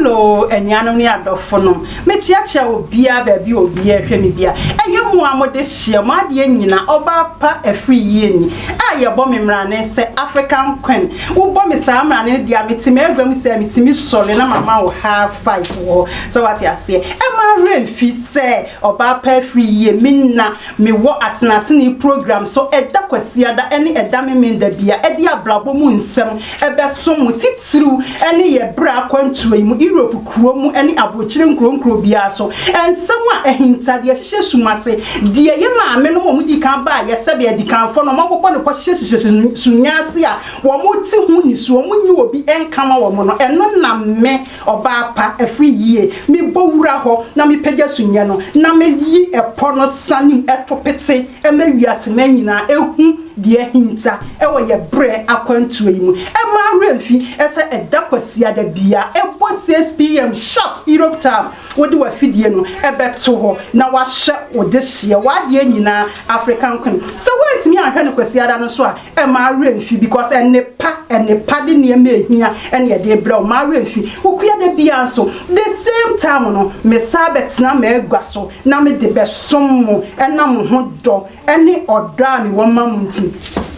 hello anuanom ne adɔfo no mekyerɛkyerɛ obiara baabi a obiara hwɛ me bia ɛyɛ mu a mode hyia mo adeɛ nyina ɔbaa pa afiri yie ni a yɛbɔ me mmerane sɛ african queen wobɔ me saa mmerane no deɛ mete m'agua mu sɛ metumi sɔre na mama wo high five wɔ sɛ wate aseɛ ɛma werɛ mfi sɛ Ɔbaa pa afiri yie me nna me wɔ atenatenee program so ɛda kwasiada ɛne ɛda memenda bia ɛde abrabɔ mu nsɛm ɛbɛ som mo titiriw ɛne yɛ berɛ akwantuo yi mu Europe kuro mu ɛne abrokyire nkuro nkuro biara so ɛnsɛm a ɛhinta deɛ ɛhyehyɛ sum ase deɛ yɛ maame nom ɔmo dikan baa yɛ sɛdeɛ adikanfoɔ no ɔmo abobɔ no pɔ hyehyɛ hyehyɛ sunya ase a ɔmo te ho nisuo ɔmo nyi obi ɛnkama ɔmo no ɛno na me Ɔbaa pa, ɛfiri yie. Mebɔ wura hɔ na mepagya sumiiɛ no, na meyi ɛpɔ no sane mu to pete ma wiaseman nyinaa ɛhu deɛ ahinta wɔ yɛn berɛ akwantuo yi mu. Ɛmmaa werɛ mfi sɛ ɛda Kwasiada biara ɛbɔ six PM sharp Europe time wode w'afidie no bɛto hɔ na woahyɛ wo dehyeɛ, w'adeɛ nyinaa African Queen. Sɛ woantumi anhwɛ no Kwasiada no so a, Mma wo werɛ mfi because nnepa, nnepa de nneɛma a ehia na ɛde rebrɛ wo. Mma wo werɛ mfi. Wokua da biara nso, the same time no, mesan bɛtena m'agua so na mede bɛsom mo ɛnam mo ho dɔ ne ɔdɔ a mewɔ ma mo nti.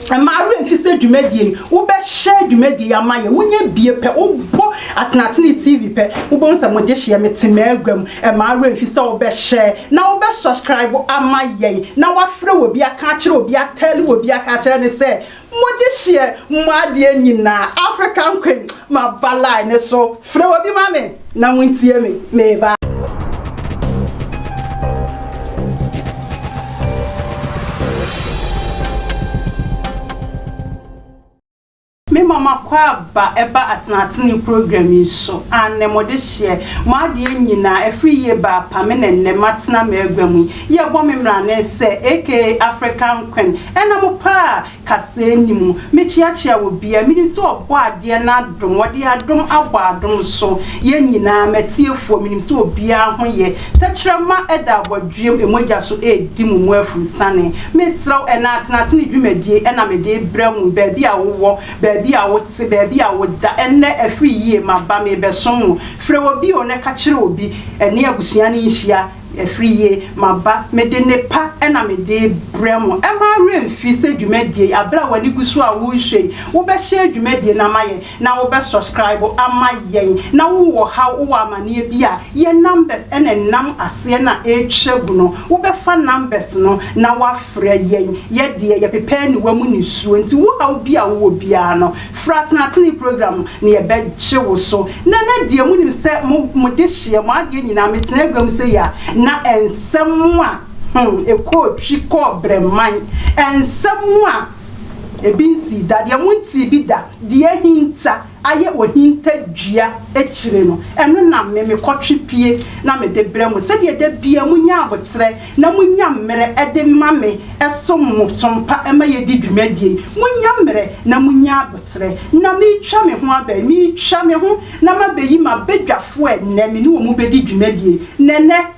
Mma wo werɛ mfi sɛ dwumadie yi, wobɛhyɛ dwumadie yi ama yɛn. Wonya bie pɛ, wobɔ Atenatene TV pɛ, wobɛhu sɛ mo dehyeɛ, mete m'agua mu. Ɛma awerɛfi sɛ wo bɛ share na wo bɛ subscribe ama yɛn na wafrɛ obi aka akyerɛ obi atell obi aka akyerɛ no sɛ mo gye hyeɛ mo adeɛ nyinaa African Queen maba line no so frɛ obi ma me na mo ntie me meba. Me ma makɔ aba ɛba atenatenee program yi so annɛ mo de hyeɛ mo adeɛ nyinaa ɛfiri yie ba apa me na nnɛ matena m'agua mu yi yɛ bɔ me mrane sɛ aka African Queen ɛna mo paa kaseɛ nni mu me kyeakyea wɔ biaa me nim sɛ ɔbɔ adeɛ no adom ɔde adom abɔ adom so yɛ nyinaa matiefoɔ me nim sɛ obiaa ho yɛ Tɛkyerɛma da abɔdweam mogya so redi mo mu afurusiane. Mesrɛ wo, ɛna atenatene dwumadie na mede rebrɛ mo, baabi a wowɔ, baabi a wote, baabi a woda. Ɛnnɛ, afiri yie, maba, merebɛsom mo. Frɛ wɔ bio na ka kyerɛ obi. Ɛne abusua no nhyia. Afiri yie, maba, mede nnepa na mede rebrɛ mo. Mma wo werɛ mfi sɛ dwumadie yi, aberɛ a w'ani gu so a worehwɛ yi, wobɛhyɛ dwumadie no ama yɛn. na wo bɛ subscribe ama yɛn na wo wɔ haw wo wɔ amaneɛ bi a yɛ numbers ɛna ɛnam aseɛ na ɛtwa gu no wo bɛ fa numbers no na wa frɛ yɛn yɛ deɛ yɛ pepɛ aniwa mu nisuo nti wo haw bi a wo wɔ biara no fra Tenatene program na yɛ bɛ gye wo so nɛnɛ deɛ mo nim sɛ mo mo de hyeɛ mo adeɛ nyinaa me tena agua mu sɛ yi a na ɛnsɛm a hmm ɛkɔɔ twi kɔɔ brɛman ɛnsɛm a. Ebi nsii da, deɛ montee bi da, deɛ ahinta ayɛ ohintadua akyire no, ɛno na me mekɔtwe pie na mede brɛ mo, sɛdeɛ da biara monya aboterɛ na monya mmerɛ de ma me som mo so mpa ma yɛdi dwumadie yi. Monya mmerɛ na monya aboterɛ. Na meretwa me ho aba yi, meretwa me ho na mabɛyi m'abadwafoɔ ɛnnɛ, me ne wɔn bɛdi dwumadie. Na ɛnnɛ.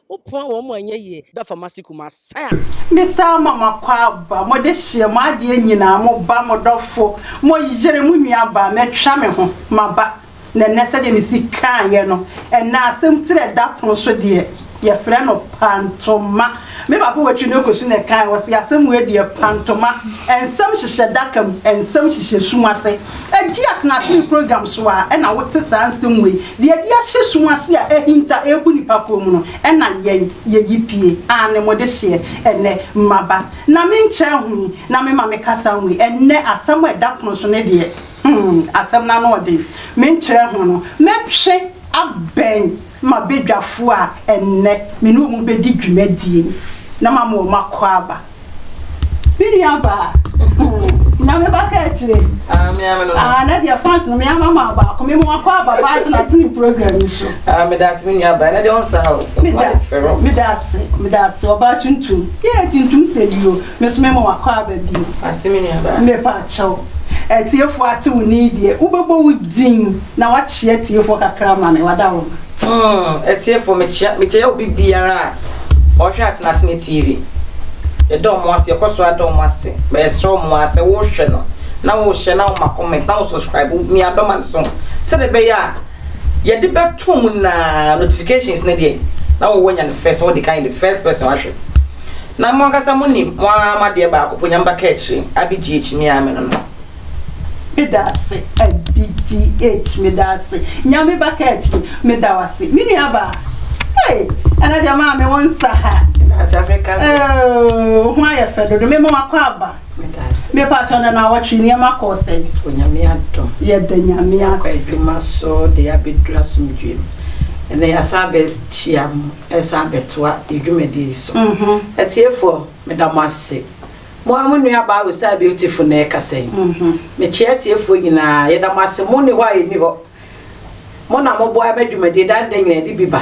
Wo poa wɔn mo anyɛ yie da fa ma si kuma sa. Me saa ma ma kɔ aba mo de hyeɛ mo adeɛ nyinaa mo ba mo dɔfo mo yere mo nua baa mɛ twa me ho ma ba na ɛnɛ sɛdeɛ me si kaa yɛ no ɛnɛ asɛm tiri ɛda pono so deɛ yɛ frɛ no pantoma me papa watwi no kɔ su na ɛkaa yɛ wɔ se asɛm wei deɛ pantoma ɛnsɛm hyehyɛ daka mu ɛnsɛm hyehyɛ sum ase. Egye atenatene program so a ɛna wote saa nsɛm wei de adi ahyɛ sum ase a ahinta rebu nnipa kɔn mu no, ɛna yɛn yeyi pie. Aane, mo de hyeɛ ɛnnɛ. Mmaba, na me nkyɛ ho yi, na me ma me kasa nwei. Ɛnnɛ, asɛm a ɛda pono so no deɛ, hmm, asɛm no ano ɔden. Me nkyɛ ho no, mɛtwe abɛn m'abadwafoɔ a ɛnnɛ me ne wɔn bɛdi dwumadie yi, na mama wɔn akwaaba. Me nua baa. Nyame ba ka akyire. Ah, me ame no. Ah, na deɛ fans no me ama ma baako. Me mo akɔ aba ba atena atene program yi so. Ah, me dase me nua baa. Na deɛ ɔnsa ha o. Me dase, me dase, me dase. Ɔbaa tuntum. Yee tuntum sɛ bi o. Me so me mo akɔ aba bi o. Ate me nua baa. Me pa kyɛw. Atiefoɔ ate wo nii deɛ. Wobɛbɔ wo din na wakyea atiefoɔ kakra ma me. Wada wo. Hmm, atiefo, mekyea mekyea obi biara a ɔhwɛ Atenatene TV. Yɛda wɔn ase, yɛkɔ so ada wɔn ase. Ma yɛsrɛ wɔn ara sɛ wohwɛ no na wohyɛ na woma comment na wo subscribe wo mia dɔma no so sɛdeɛ ɛbɛyɛ a yɛde bɛto mu nyinaa notifications no deɛ na wowɔ nya no first wode kan the first person ahwɛ na mo ankasa mo nim mo ara mo adeɛ baako po nyamba ka akyire abɛgye akyi me ara me no no Meda ase abdh meda ase nyame ba ka akyire meda wase me nua baa hey ɛna deɛ maa me wo nsa ha oh ho ayɛ fɛ dodo me ma wakɔ aba me pa atɔ na na awɔtwe nneɛma kɔɔ sɛ onyame adom yɛda nyame ase adwuma so de abɛdura somdwem ɛnɛ yɛasa abɛkyia mu ɛsan abɛtoa yɛdwumadie yi so mhm. atiefoɔ meda mo ase Mo ara mo nuabaa Rosae Beautiful na ɛrekasa yi. Mekyea atiefoɔ nyinaa. Yɛda mo ase. Monni hɔ a yɛnni hɔ. Mo na moboa ma dwumadie daa ne da nyinaa de bi ba.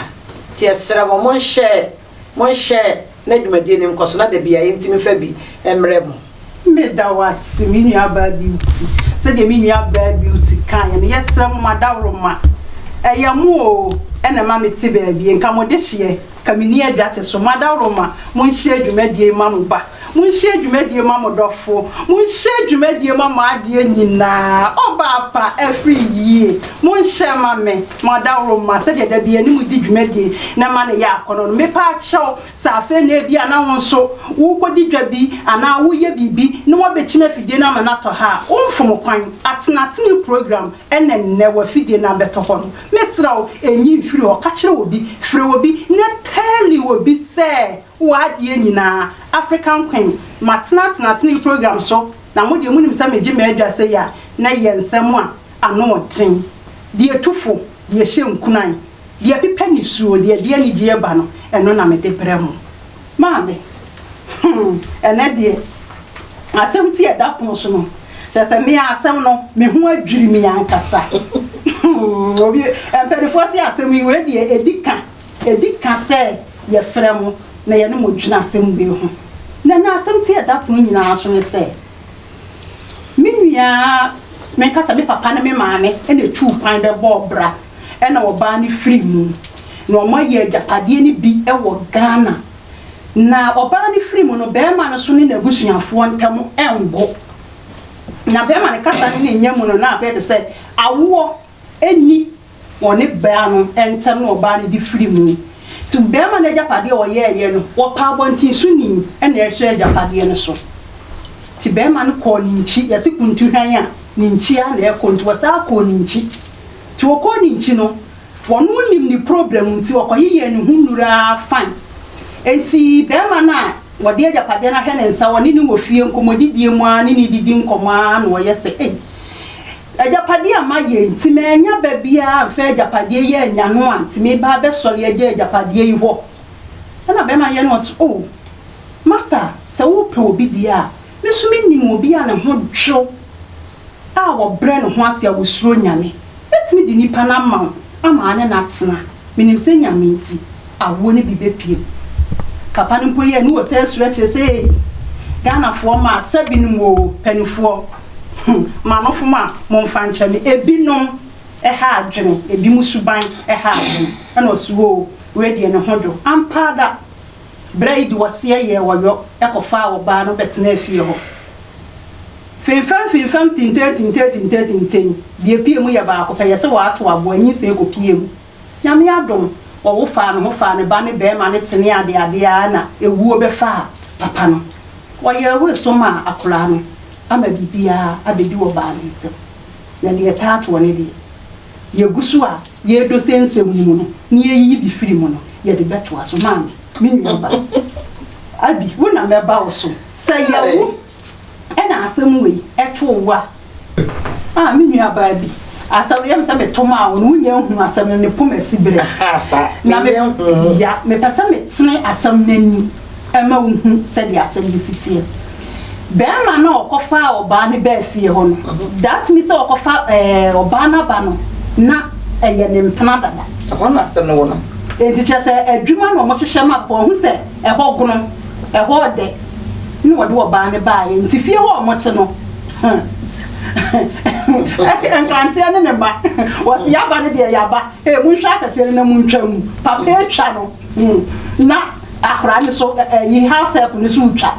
Nti yɛsrɛ mo, monhyɛ, monhyɛ na dwumadie no nkɔ so na da biara yɛntumi mfa bi mmrɛ mo. Meda wo ase, me nuabaa Beauty. Sɛdeɛ me nuabaa Beauty kaeɛ no, yɛsrɛ mo, mo adaworoma, ɛyɛ mo o na ɛma mete baabi. Nka mo dehyeɛ, nka menni adwa te so. Mo adaworoma, monhyɛ dwumadie yi ma mo ba. Monhyɛ dwumadie ma mo dɔfo. Monhyɛ dwumadie ma mo adeɛ nyinaa. Ɔbaa pa afiri yie. Monhyɛ ma me, mo adaworo mma, sɛdeɛ da biara ne mo di dwumadie na ɛma no yɛ akɔnnɔ no. Mepɛ akyɛ wo sɛ afei na ebia na wo nso worekɔdi dwa bi anaa woreyɛ biribi na wɔabɛkyim afidie no ama no atɔ ha a, womfom kwan. Atenatene program na nnɛ w'afidie no abɛtɔ hɔ no. Mesrɛ wo, nyi mfiri hɔ. Ka kyerɛ obi, frɛ obi na tell obi sɛ Wɔ adeɛ nyinaa African Queen matena tena tena yi program so na mo deɛ monim sɛ megye m'adwa sei a na yɛ nsɛm a ano ɔden deɛ tu fo deɛ hyɛ nkunan deɛ pepa nisuo deɛ ɛde anigyeɛ ba no ɛno na mede brɛ mo maame hmm ɛnɛ deɛ asɛm ti a ɛda pono so no kyerɛ sɛ me a asɛm no me ho adwiri me ankasa hmm obi mpanifoɔ se asɛm yi wei deɛ ɛdi ka Edi ka sɛ yɛfrɛ mo na yɛne mo dwene asɛm wei ho. Na na asɛm ti a ɛda pono nyinaa so ne sɛ, Me nua, menka sɛ me papa ne me maame na etuu kwan bɛbɔɔ bra na ɔbaa no firii mu, na wɔayɛ agyapadeɛ no bi wɔ Ghana. Na ɔbaa no firii mu no, barima no so ne n'abusuafoɔ ntam ngo. Na barima no kasa no ne nya mu no, na abɛyɛ te sɛ awoɔ nni ɔne baa no ntam na ɔbaa no de firi mu. Nti barima no agyapadeɛ a ɔyɛeɛ no, ɔpaa abɔnten so ni na ɛhwɛɛ agyapadeɛ no so. Nti barima no kɔɔ ne nkyi, yɛse kuntuhwan a, ne nkyi ara na ɛkɔ, nti ɔsan kɔɔ ne nkyi. Nti ɔkɔɔ ne nkyi no, ɔno nnim ne problem nti ɔkɔyeyɛɛ ne ho nnuru ara fine. Nti barima no a ɔde agyapadeɛ no ahwɛ ne nsa, ɔne no wɔ fie nkɔmmɔdidie mu ara ne no redidi nkɔmmɔ ara na ɔyɛ sɛ ei, Agyapadeɛ a mayɛ nti mannya ba biara amfa agyapadeɛ yi annya no a nti meba abɛsɔre agya agyapadeɛ yi hɔ. Ɛnna barima no yɛ no ɔse, Oh, Masa, sɛ wopɛ obi deɛ a, me nso menim obi a ne ho dwo a ɔbrɛ ne ho ase a ɔsuro Nyame. Mɛtumi de nipa no ama wo ama ane no atena. Menim sɛ Nyame nti. awoɔ no bi bɛpue mu. Kapa no mpo yɛɛ ne wɔ sɛ suro akyire sɛ ei Ghanafoɔ ma sɛ bi nom oo panifoɔ hmm manofom a momfa nkyɛ me ebi nom ɛha adwene ebi mo suban ɛha adwene ɛna ɔse oo wei deɛ ne ho dwo ampaa da berɛ yi de wɔseɛ yɛɛ wɔyɔ ɛkɔ faa wɔbaa no bɛtenaa fie hɔ fimfam fimfam tintee tintee tintee tintee deɛ pue mu yɛ baako pɛ yɛse wɔ ato aboa nyinsɛn kɔ pue mu. Nyame adom, ɔwo faa ne ho faa ne ba ne bɛɛma no tenee adeade ara na ɛwuo bɛfaa papa no. Ɔyɛɛ wo eso maa akoraa no ama biribiara abɛdi ɔbaa no nsam. Na deɛ ɛtaa toɔ no deɛ, yɛgu so a yɛredɔ sɛ nsɛm no mu no na yɛyiyi bi firi mu no, yɛde bɛtoa so. Maame, me nua ba, Abi, wo na mɛba wo so. Sɛ yɛwo na asɛm wei too wo a, ah me nuabaa bi, asɛm no yɛ me sɛ meto maa wo no, wonyɛ nhunu asɛm no, ne poma si berɛ. Na me, ya, mepɛ sɛ metene asɛm no ani ma wo hu sɛdeɛ asɛm no si teɛ. Bɛrima no a ɔkɔfaa ɔbaa no baa fie hɔ no, that means sɛ ɔkɔfa ɛɛ ɔbaa no aba no, na ɛyɛ ne mpena dada. Ɛhɔ na asɛm no wɔ no. Enti kyerɛ sɛ adwuma na wɔhyehyɛ ma papa, wahu sɛ ɛhɔ gono. Ɛhɔ dɛ na wɔde ɔbaa no baeɛ, nti fie hɔ a wɔte no, hmm, Nkanteɛ ne ne mma, wɔse yɛaba no deɛ yɛaba, ee monhwɛ akɛseɛ no na montwa mu, papa atwa no, hmm, na akora no so, ɛyi house help no so retwa.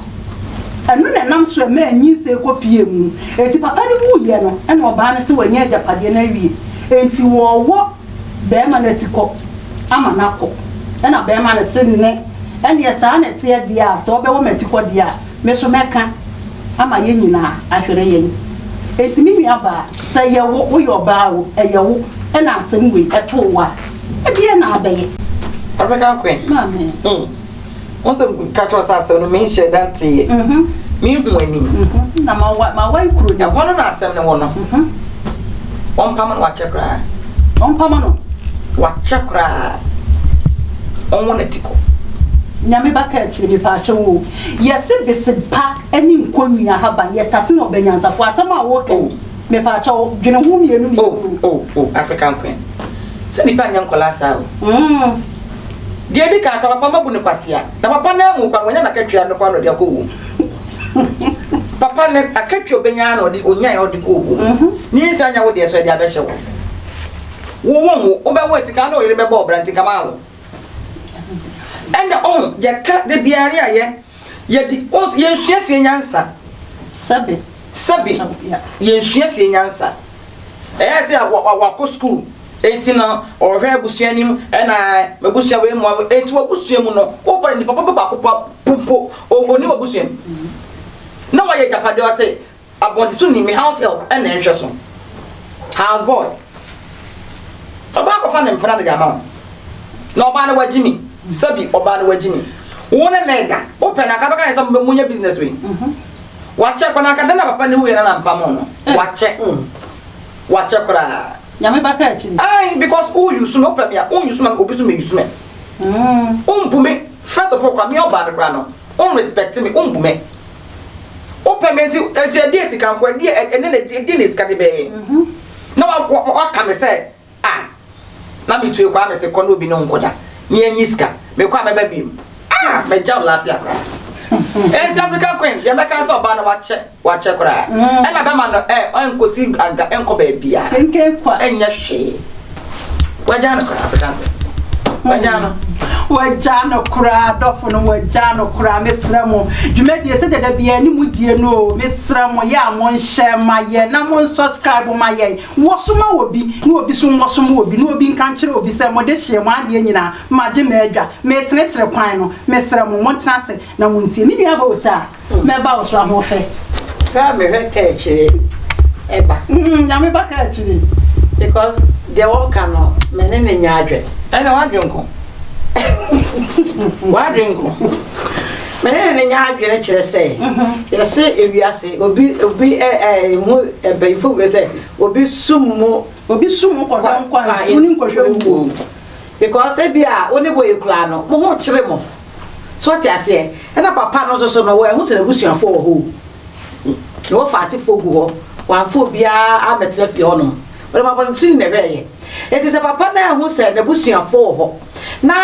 Ɛno na ɛnam so ɛmaa nyinsɛn kɔ pie mu, enti papa no wuiɛ no, ɛna ɔbaa no se wanya agyapadeɛ no awie, enti wɔwɔ. bɛɛma no atikɔ ama no akɔ ɛna bɛɛma no se nnɛ ɛneɛ saa na ɛteɛ deɛ a sɛ ɔbɛwɔ m'atikɔ deɛ a me so mɛka ama yɛn nyinaa ahwere yɛn enti me nua baa sɛ yɛ wo woyɛ ɔbaa o ɛyɛ wo ɛna asɛm wei ɛtoo wo a ɛdeɛ na abɛyɛ? African Queen. Maame. Mm. Wɔn sɛ ka kyerɛ sɛ asɛm no me nhyɛ da nteeɛ. Mhm. Me nhu ani. Mhm. Na ma wa ma wa nkuro ni. Ɛhɔ no na asɛm no wɔ no. Mhm. Wɔn mpama no wakyɛ koraa. Wɔn mpama no. Wakyɛ koraa. Wɔn wɔn ati kɔ. Nyame ba ka akyire mi paakyɛ wo. Yɛsi besepa ɛni nko nua haba yɛ tase na ɔbɛ nyansafo asɛm a wɔkɛ. Oh. Me paakyɛ wo dwene ho mmienu mmienu. Oh oh oh African queen. Sɛ nipa nyɛ nkɔla saa o. Mm. Deɛ ɛdi kan, papa papa mma bu no kwasea. Na papa no amu kwan, wanya n'akatua no koraa na ɔde akɔ owuo mu. Papa no akatua a ɔbɛnya ara na ɔde, ɔnyaeɛ ara ɔde kɔ owuo mu. Ne nsa anya wo deɛ so ɛde abɛhyɛ wo. Wo wo nwo, wobɛwo a tikaa na wo yere bɛbɔ wo bra nti nka mawo. Ɛnna ɔho, yɛka da biara ne ayɛ. Yɛde, oh, yɛnsua fie nyansa. Sɛbe. Sɛbe. Yɛnsua fie nyansa. Ɛyɛ sɛ wakɔ sukuu, enti no ɔhwɛ abusua anim, ɛna abusua wei mu, enti wabusua mu no, wobɔ ne papa bi baako po, onim abusua mu. Na wayɛ agyapadeɛ ɔse. Abɔntito nim me house help na ɛnhwɛ so house boy ɔbaa kɔfa ne mpena mede ama wo na ɔbaa no wagye me sɛbi ɔbaa no wagye me wo ne ne da wopɛ na anka bɛka ne sɛ monyɛ business wei wakyɛ kɔ na anka dɛn na papa ne wuyɛ na na mpamo no wakyɛ wakyɛ koraa nyame bɛpɛ akyi no ai because wo yusu me wopɛ me a wo yusu me obi so me yusu me wo mbu me first of all kora me ɔbaa no kora no wo respect me wo mbu me Wopɛ me nti, nti ɛdeɛ sika nko, ɛdeɛ ɛ, ɛne ne, ɛdeɛ ne sika de bɛyɛ? Na wa, wa, waka me sɛ, a, na metue kɔ a mese kɔ ne obi ne wo nkɔda, ne yɛnyi sika, mekɔ a mɛba biom. A, magya wo laafia koraa. Enti African Queen, deɛ mɛka ne sɛ ɔbaa no wakyɛ, wakyɛ koraa. Ɛna bɛma no ɛ, ɛnkɔsi anka, ɛnkɔ baabiara, ɛnyɛ hwee. Wagyaa no koraa, abɛda no bɛ. Wagyaa no. Wagyaa no koraa, dɔfo no, wagyaa no koraa. Mesrɛ mo, dwumadie sɛ dada biara ne mu die no o, mesrɛ mo, yɛ a monhyɛ ma yɛn na monsɔskraibo ma yɛn. Wɔsoma wɔ bi, ne obi so wɔsoma wɔ bi, ne obi nka nkyerɛ obi sɛ mode hyeɛ mo adeɛ nyinaa, magye m'adwa, metenetene kwan no. Mesrɛ mo, montena ase na montie. Me nua Bosa. Mɛba wo so ahoɔfɛ. Kaa mehwɛ kaakyire ɛba. Mm, nyame ba kaakyire. Because deɛ wɔka no me ne ne nya adwen. Ɛna wadwen nko. wadwen nko. Me ne ne nya adwene kyerɛ sɛ yɛse ewiase obi obi ɛ ɛ mu ɛbɛnfo bɛ sɛ obi sum mu obi sum mu kɔdɔn kwan nkɔhwɛ mu because ebi a wo ne bɔ ekura no mo ho kyerɛ mo. So wote aseɛ? Ɛna papa no nso so no, wɔanhu sɛ n'abusuafoɔ wɔ hɔ o. Na wɔafa asefoɔ gu hɔ, wɔamfa obiara ammɛtena fie hɔnom. Wɔde abɔnten na ɛbɛɛyɛ. Enti sɛ papa no anhu sɛ n'abusuafoɔ wɔ hɔ, na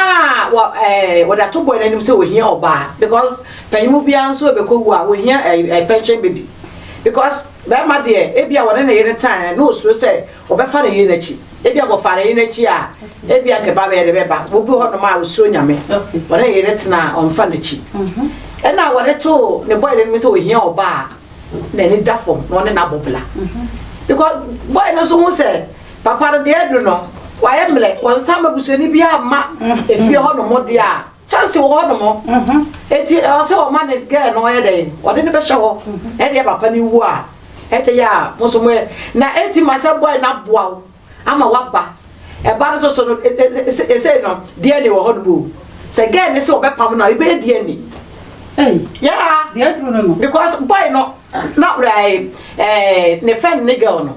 wɔ ɛɛ wɔde ato bɔe no anim sɛ wɔhia ɔbaa, because panyin biara nso rebɛkɔwu a, wɔhia ɛɛ pension baby. Because barima deɛ, ebia wɔne ne yere tan, na ɔsuro sɛ wɔbɛfa ne yere no akyi. Ebia wɔfaa ne yere akyi a, ebia anka ɛba bɛyɛ dɛ bɛba. Obi wɔ hɔnom a osuro Nyame, ɔne ne yere tena a ɔmfa n'akyi. Ɛna a wɔde too ne bɔyere no mu sɛ ohia ɔbaa a n'ani da fam na ɔne no abɔ bla. Because bɔyɛ no nso hu sɛ papa no deɛ adu no, wayɛ mmerɛ, wɔnsan ma busuani biara mma efie hɔnom deɛ a, Chance wɔ hɔ nom o, eti ɛwɔ sɛ ɔma ne girl no ɔyɛ dɛn, ɔde no bɛhyɛ hɔ, ɛdeɛ papa no wu a, ɛde yɛ a mo nso mo yɛ, na eti ma sɛ boy no aboa wo ama waba, ɛba no nso so no, esei no DNA wɔ hɔ nom o, sɛ girl no se ɔbɛpam no a, ebɛyɛ DNA. Ei, yeah, deɛ aduru no no. Because boy no na, ɛɛ, ne friend ne girl no.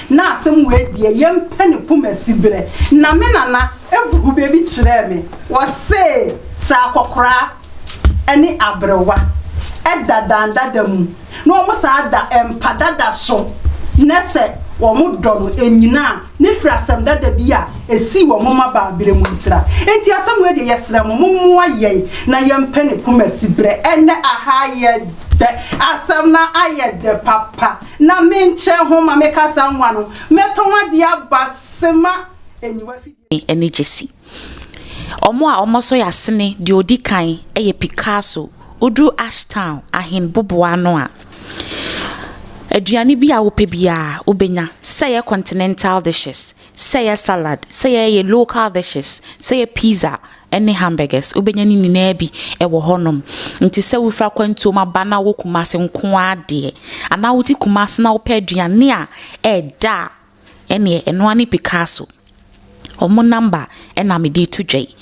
Na asem wei deɛ yɛmpɛ ne poma siberɛ na me nana buu bɛbi kyerɛɛ me ɔsee sɛ akɔkoraa ɛne aberewa ɛda dan dada mu na ɔmo saa da mpa dada so nɛsɛ ɔmo dɔ no ɛnyina a ne firi asem dada bi a ɛsii wɔ mo mma baa berɛ mu ntira nti asem wei deɛ yɛsrɛ mo mo moa yɛn na yɛmpɛ ne poma siberɛ ɛnɛ ahaa yɛ dɛ asem no ayɛ dɛ papa. Na me nkyɛn ho ma me kasa nwa no, mɛtɔn adeɛ aba Sema aniwa afidie. Ɛne Gyasi. Wɔn a wɔn so yɛ asene deɛ ɔdi kan yɛ Picasso. Woduru Ashtown Ahen boboa ano a, aduane bi a wopɛ biara wobɛnya, sɛ ɛyɛ continental dishes, sɛ ɛyɛ salad, sɛ ɛyɛ local dishes, sɛ ɛyɛ pizza, ne hamburgers, wobɛnya ne nyinaa bi wɔ hɔnom. Nti sɛ wofiri akwantuom aba na wowɔ Kumasi nko ara deɛ, anaa wote Kumasi na wopɛ aduane a ɛɛdɛ a, ɛneɛ ɛno ara ne Picasso. Wɔn number na mede reto dwa yi.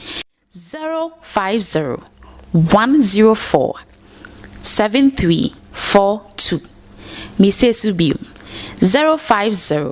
050 104 7342. Mesie so bio, 050.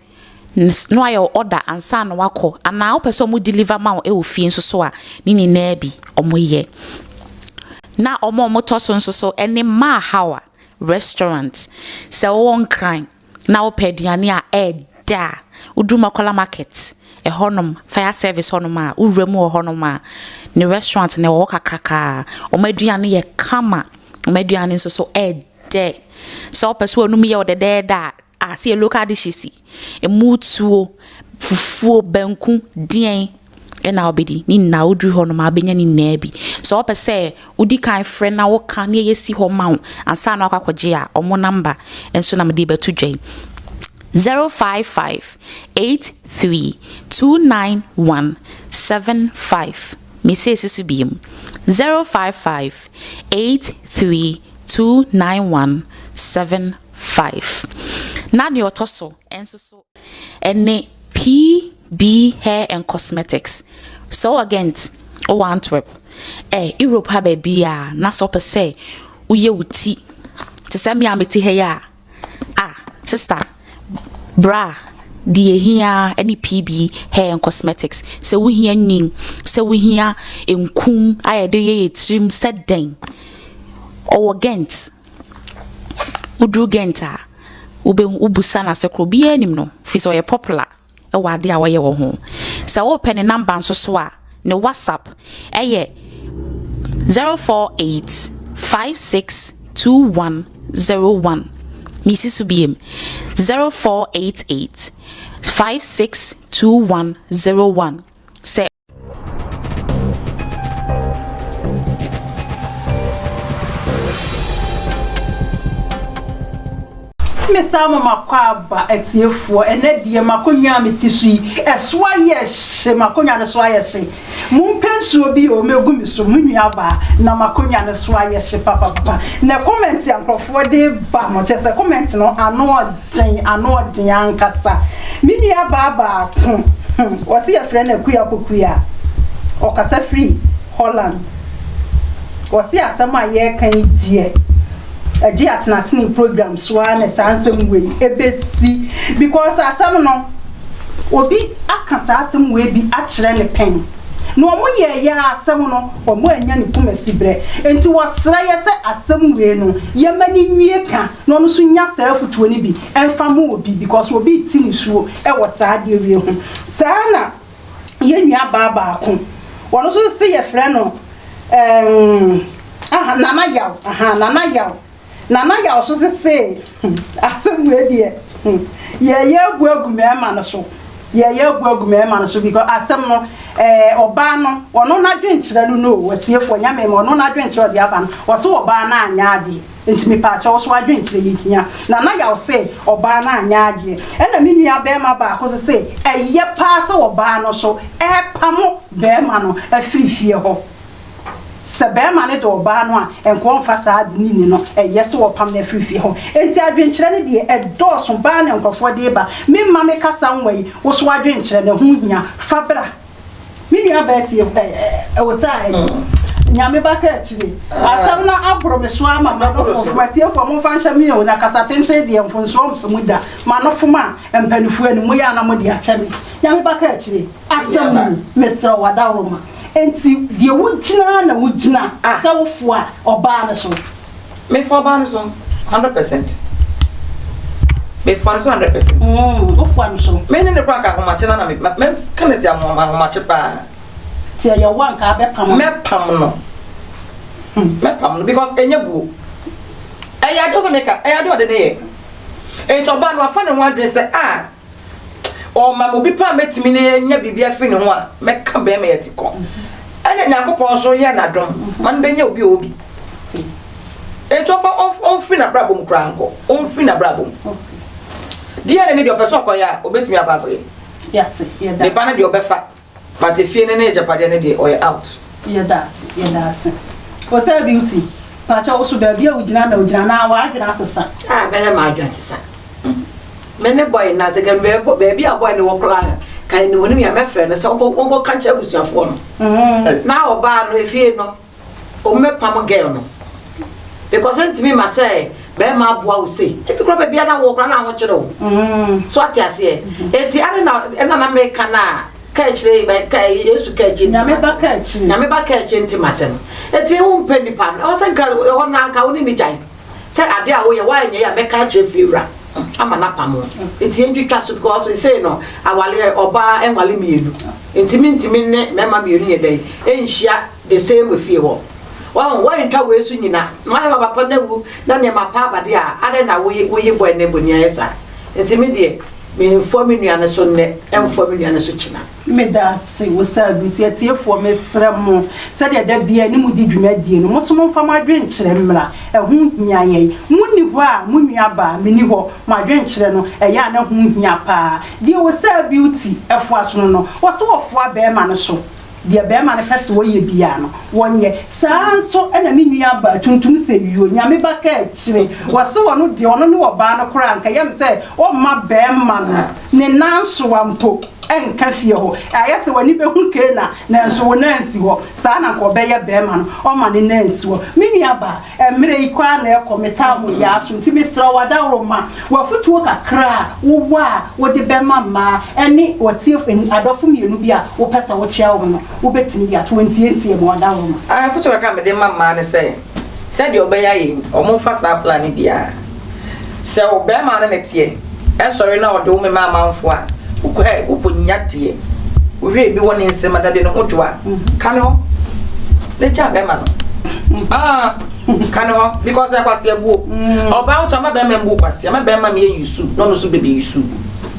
No ayɛ wo order ansa na wakɔ anaa wopɛ sɛ ɔmo deliver ma wo ɛwɔ fie nso so a ne nyinaa bi ɔmo yɛ. Na ɔmo ɔmo tɔ so nso so ɛne maa hawa restaurant sɛ ɔwɔ nkran na wopɛ aduane a ɛɛdɛ a woduru makwala market ɛhɔ nom fire service hɔ nom a wowura mu wɔ hɔ nom a ne restaurant na ɛwɔ hɔ kakrakaa ɔmo aduane yɛ kama ɔmo aduane nso so ɛɛdɛ sɛ wopɛ sɛ ɔnom yɛ ɔdɛdɛɛdɛ a Ah sɛ yɛ local dishes yi, emu tuo, fufuo, banku, deɛn ɛna wobɛdi? Ne nyinaa woduru hɔ nom a wobɛnya ne nyinaa bi. Sɛ wopɛ sɛ wodi kan frɛ na woka ne yɛsi hɔ ma wo ansa na wakɔ akɔgye a, wɔn namba nso na mede bɛto dwa yi. 0558329175 mesɛ si so biem 0558329175 Five. Na nea ɔtɔ so nso so ne PB Hair and Cosmetics, Soo Agent wɔ Antwerp, eh, Europe ha baabi a na sɛ ɔpɛ sɛ woyɛ wo ti te sɛ me a mete ha yi a, ah, sista, bra, deɛ ɛhia ne PB Hair and Cosmetics. Sɛ wohia nyin, sɛ wohia nkum a yɛde yɛ yɛ tirim sɛ dɛn, ɔwɔ Ghent. Woduru Ghent a, wobɛhu, wobisa no ase korɔ, obiara nim no, firi sɛ ɔyɛ popular wɔ adeɛ a ɔyɛ wɔ ho. Sɛ wopɛ ne number nso so a, ne WhatsApp ɛyɛ 0485621001. Mesi so biem, 0488562101. Sɛ. mesan ma makɔ aba atiefoɔ ɛnɛ deɛ makonnwa a mete so yi ɛso ayɛ hye makonnwa no so ayɛ hye mompɛ nsuo bi o mɛgu me so mo nuabaa na makonnwa no so ayɛ hye papapapa na kɔmɛnti a nkurɔfoɔ de ba no kyɛ sɛ kɔmɛnti no ano Sɛn ano ɔden ankasa! Me nuabaa baako, wɔse yɛfrɛ no Akua Pokuaa, ɔkasa firi Holland. Wɔse asɛm a yɛreka yi deɛ, ɛgye Atenatene program so ara na saa nsɛm wei bɛsi, because asɛm no, obi aka saa asɛm wei bi akyerɛ no pɛn, na wɔyɛeɛ ara asɛm no, wɔannya ne kumasiberɛ. Enti wɔsrɛ yɛ sɛ asɛm wei no, yɛmma no nwie ka. na ɔno nso nya saa afutuo no bi mfa ma obi because obi rete nisuo wɔ saa adeɛ wei ho. Saa na yɛn nua baa baako, ɔno nso se yɛfrɛ no emm aha Nana Yaw ahaa Nana Yaw, Nana Yaw nso se se hmm asem wei deɛ hmm yɛɛyɛ abu agu mɛɛma no so, yɛɛyɛ abu agu mɛɛma no so because asem no ɛɛ ɔbaa no ɔno nadwenkyerɛ no no o atiefoɔ Nyame mma ɔno nadwenkyerɛ ɔde aba no ɔse ɔbaa no anyɛ adeɛ. Enti mepaakyɛ wo so w'adwenkyerɛ yi hia. Nanayaw se, Ɔbaa no anyɛ adeɛ. Ɛna me nua barima baako nso se, Ɛyɛ paa sɛ ɔbaa no so repamo barima no afiri fie hɔ. Sɛ barima no de ɔbaa no a, nka ɔmfa saa ade no nni no, ɛyɛ sɛ ɔrepam no afiri fie hɔ. Enti adwenkyerɛ no deɛ, ɛdɔɔso baa na nkurɔfoɔ de reba. Memma me kasa nwa yi wo so adwenkyerɛ no, ɛho hia. Fa bra. Me nua baa ti ɛ ɛ osaa ɛ Nyame ba ka akyire. Asɛm no aboro me so ara ma m'ano fomfom. Atiefoɔ momfa nhyɛ me o, na kasa tenten deɛ mfomsoɔ mfa mu da. M'ano fom a, mpaninfoɔ anim moyɛ a na mode akyɛ me. Nyame ba ka akyire. Asɛm no mu, mesrɛ wo adaworoma. Enti deɛ wogyina ara na wogyina sɛ wofoa ɔbaa no so. Mefoa ɔbaa no so hundred percent. Mefoa no so hundred percent. Mm, wofoa no so. Me ne ne kora nka ahomakye na na me me ka ne si ahomakye paa. Ti ɛyɛ wo anka abɛpam. Mɛpam no. Hmm. Mɛpam no because ɛnyɛ buo. Ɛyɛ ade sɛ meka, ɛyɛ ade ɔde ne yɛ. Nti ɔbaa no afa ne ho adwene sɛ a ah, Ɔma me obi pa a mɛtumi ne yɛ nya biribi afiri ne ho a mɛka bɛrima yi ati kɔ. Ɛna Nyankopɔn nso yɛ n'adom ma no bɛnya obi a ɔwɔ bi. Enti ɔmpa ɔmf ɔmfiri n'abrabɔ mu koraa nkɔ. Ɔmfiri n'abrabɔ mu. Deɛ ne ne deɛ ɔpɛ sɛ ɔkɔyɛ a, ɔbɛtumi akɔ akɔyɛ. Ne ba no deɛ ɔbɛfa. But efie no ne agyapadeɛ no deɛ ɔyɛ out. Yɛdaase yɛdaase osɛ beauty pakyɛ woso baabi a wogyina na wogyina anaa w'adwene asesa. Ah bɛdɛ m'adwene asesa me ne boy no nasɛ kɛ baabi a boy no wɔ koraa ka ne nim onim yɛ a mɛfrɛ no sɛ ɔnkɔ ɔnkɔ ka nkyerɛ abusuafoɔ no na ɔbaa no efie no. Ɔmo bɛ pam girl no because ntumi ma sɛ bɛrima aboa wo sei ebi kora baabi a na wɔ kora na ahokyere wo mm. so ate aseɛ eti ade na ɛna na meka na ka akyire bɛ ka yesu ka akyire nti ma sɛm nyame ba ka akyire nti ma sɛm eti ewu mpɛ nipa no ɛwɔ sɛ nka ɛhɔ na nka wo ne ne gyae. sɛ ade a woyɛ woayɛ nea ɛyɛ a mɛka akyerɛ fie wura ama no apam wo nti yɛntwitwa so because ɛsei no awaleɛ ɔbaa ɛnwale mmienu nti mentumi ne mɛma mmienu yɛ dɛn ɛnhyia the same fie hɔ wɔn wɔntwa wei so nyina na wayɛ baba pa na wu na nneɛma pa abade a adɛn na woye woye bɔ ɛnɛ bɔ ni ayɛ saa nti me deɛ menfoa me nua no so nnɛ ɛnfoa me nua no so kyina Meda ase wɔ saa bere yi nti. Atiefoɔ, mesrɛ mo, sɛdeɛ da biara ne modi dwumadie no, mo nso momfa mo adwenkyerɛ mmra. Ɛho hia yɛn. Monni hɔ a, mo nuabaa, menni hɔ. Mo adwenkyerɛ no, ɛyɛ a na ɛho hia pa ara. Deɛ wɔ saa Beauty foa so no no, wɔse wɔfoa barima no so. Deɛ barima no pɛ sɛ ɔyɛ biara no, ɔnyɛ. Saa ara nso na me nuabaa tuntum sɛ yuo, Nyame ba ka akyire. Wɔse ɔno deɛ, ɔno ne ɔbaa no koraa, anka ɛyɛ me sɛ ɔmma barima no. Ne nnansowa mpo nka fie hɔ. Ayɛ sɛ w'ani bɛhu Keena, nanso wo nan nsi hɔ. Saa na anka ɔbɛyɛ barima no, ɔma ne nan nsi hɔ. Me nuabaa, mmerɛ yi kɔ ara na ɛrekɔ, metaa mo yea aso, nti mesrɛ wo adaworoma, w'afotuo kakra a wowɔ a wode bɛma mmaa ne w'atie, adɔfo mmienu bi a wopɛ sɛ wokyea wɔn no, wobɛtumi de ato hɔ ntiantiamu, adaworoma. Afotuo kakra a mede ma mmaa ne sɛ. sɛdeɛ ɔbɛyɛ ayɛ yi ɔmo nfa saa plan no biaa sɛ wo bɛɛma no ne teɛ ɛsɔre na ɔde wo mema amanfoɔ a wokɔɛ wokɔ nya deɛ wohwɛ ebi wɔ ne nsam a dadeɛ ne ho dwo a ka ne hɔ ne gya bɛɛma no ah ka ne hɔ because ɛkwasi abuo ɔbaa wotu ama bɛɛma mbu kwasi ama bɛɛma mi yɛ yusu na ɔno nso bɛbi yusu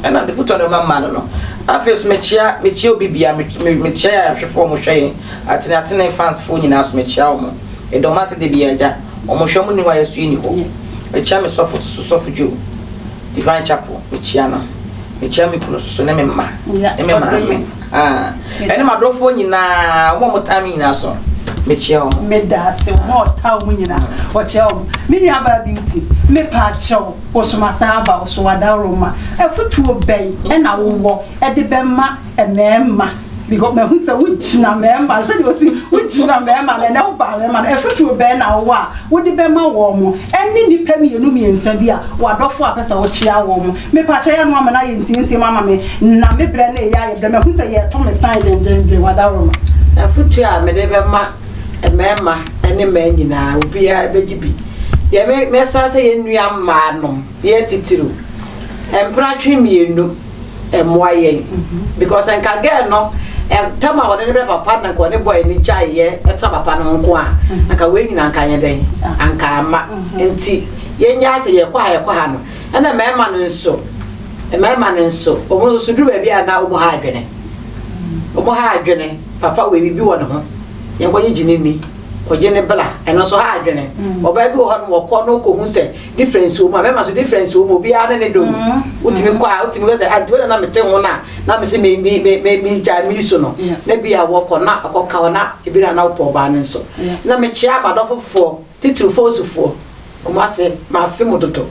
ɛna de foto no ma mma no no afei so mekyia mekyia obi bia mekyia yɛ ahwɛfoɔ mo hwɛ yɛn Atene atene fans foɔ nyinaa so mekyea wɔn medɔ mo ase dabi agya wɔn hwɛ wɔn ni hɔ a yɛso yɛni hɔ mekyea me sɔfo to so sɔfo Joe divine chapel mekyea no mekyea me kunu soso ne me mma ne me maame ah ɛne madɔfoɔ nyinaa wɔn a wɔtaa me nyinaa so mekyea wɔn meda ase wɔn a wɔtaa wɔn nyinaa wɔkyea wɔn me nua baa beauty mepa akyɛw wɔsoma saa aba wɔso wadaworo ma afutuo bɛn ɛna wowɔ ɛde bɛma mmarima because mahu sɛ wogyina mmarima no sɛdeɛ ɔsi wogyina mmarima no ɛnɛ woba mmarima no ɛfoturo bɛn na wowɔ a wode bɛma wɔn mo ɛne nnipa mmienu mmiɛnsa bi a wɔadɔfo a pɛ sɛ wokyea wɔn mo mepakyɛ yɛ ano ama no ayɛ ntiantiam ama me na me berɛ no ɛyɛ ayɛ berɛ mahu sɛ yɛto me san dendenden wadaworo no ɛfotuo a mede bɛma mmarima ne mmaa nyinaa obiara bɛgye bi deɛ mɛsa sɛ yɛnnua mmaa nom yɛ titiriw mpratwe mmienu mmoa yɛn because nka girl no tam a wɔde ne bɛ papa na nka ɔne boy ne gyae yɛ ɛtena papa no nko a anka wei nyina nka nyɛ dɛn anka ama nti yɛnya sɛ yɛkɔ ha yɛkɔ ha no ɛna mmarima no nso mmarima no nso wɔn nso duru baabi a na wɔn ha adwene wɔn ha adwene papa wei bibi wɔ ne ho yɛnkɔgye gyini ni kɔgye ne bla ɛno nso ha adwene ɔbaa bi wɔ hɔ no wɔkɔ no kɔhu sɛ difference wɔ mu a bɛrima nso difference wɔ mu obiara ne ne dom wotumi kɔ a wotumi kɔ sɛ adi wɛrɛ na mete ho no a na mese me me me me me gya miri so no na bi a wɔkɔ na ɔkɔ ka hɔ na ebi na na wopɔ ɔbaa no nso na mekyea madɔfo foɔ titiri fɔɔsufoɔ ɔmo ase maafe mo dodo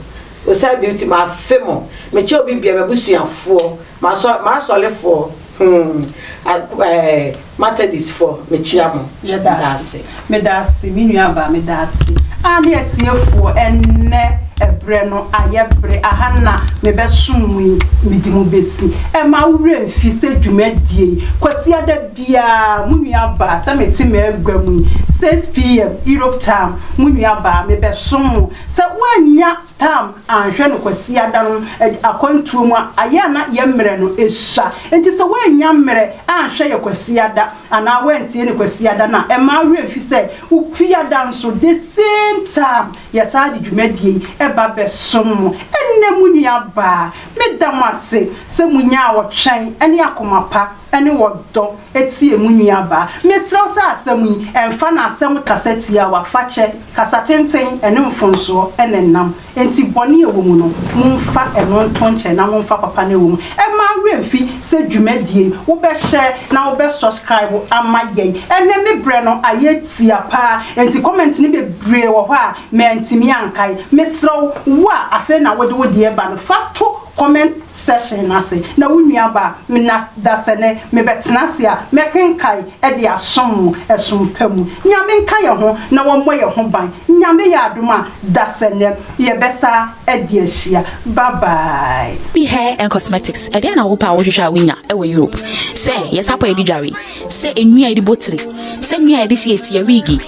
osae bi ti maafe mo mekyɛ obi bia mabusuafoɔ masɔ masɔlefoɔ Humm Aku ɛɛ Matadist foɔ mekyia mo Yɛdaase. Medaase me nua baa medaase aa ne atiefoɔ ɛnnɛ ɛbrɛ no ayɛ bere aha na mebɛsom mo yi mede mo bɛsi ɛma wo werɛ mfi sɛ dwumadie yi kwasiada biara mo nua baa sɛ mete m'agua mu yi 6 pm Europe time mo nua baa mebɛsom mo sɛ woannya Tam anhwɛ no Kwasiada no akwantuo mu a, ayɛ a na yɛ mmerɛ no sua. Enti sɛ woannya mmerɛ anhwɛ yɛ Kwasiada anaa woantie ne Kwasiada no a, mma wo werɛ mfi sɛ wo Kwiada nso, the same time, yɛsan de dwumadie yi ba bɛsom mo. Ɛnnɛ mo nuabaa, meda mo ase sɛ monyaa ɔtwɛn ne akoma pa. ne wɔ dɔ tie mo nuabaa. Mesrɛ wo sɛ asɛm yi, mfa no asɛm kasa tiawa, fakyɛ, kasa tenten, ne mfomsoɔ na ɛnam. Enti bɔne a ɛwɔ mu no, momfa ɛno nto nkyɛn na momfa papa no a ɛwɔ mu. Mma wo werɛ mfi sɛ dwumadie yi, wobɛ share na wobɛ subscribe ama yɛn. Ɛnnɛ me berɛ no ayɛ tia paa, enti comment no bebree wɔ hɔ a mantumi ankae. Mesrɛ wo, wo a afei na wode wo deɛ reba no, fa to comment. session no ase, na wo nua ba me na dasɛnɛ me bɛ tena ase a mɛ kenkae ɛde asom mo ɛsom pa mu. Nyame nka yɛ ho na wa mmɔ yɛ ho ban. Nyame yɛ adom a dasɛnɛ yɛ bɛ sa ɛde ahyia. Bye bye. Bi Hair and Cosmetics, Ɛdeɛn na wopɛ a wohwehwɛ a wonya wɔ Europe? Sɛ yɛ sapa a yɛde dware, sɛ nnua a yɛde bɔ tiri, sɛ nnua a yɛde hyehyɛ ti, yɛ wiigi,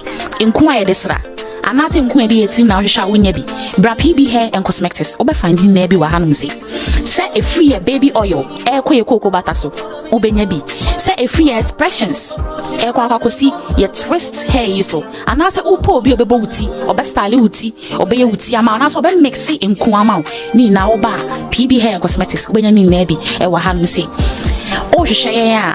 nku a yɛde sra, Anaasɛ nku a ɛde yɛ tirim na wohwehwɛ a wonnya bi? Bra PB Hair and Cosmectics, wobɛfa ndi nnɛ bi wɔ hanom sei. Sɛ ɛfiri yɛ baby oil ɛrekɔ yɛ kooko bata so, wobɛnya bi. Sɛ ɛfiri yɛ expressions ɛrekɔ akɔ akɔsi yɛ twist hair yi so, anaasɛ wopɛ obi a ɔbɛbɔ wo ti, ɔbɛstyle wo ti, ɔbɛyɛ wo ti ama wo, anaasɛ ɔbɛmixe nku ama wo, ne nyinaa woba a PB Hair and Cosmetics wobɛnya ne nyinaa bi ɛwɔ hanom sei. Wohwehwɛ yɛn a.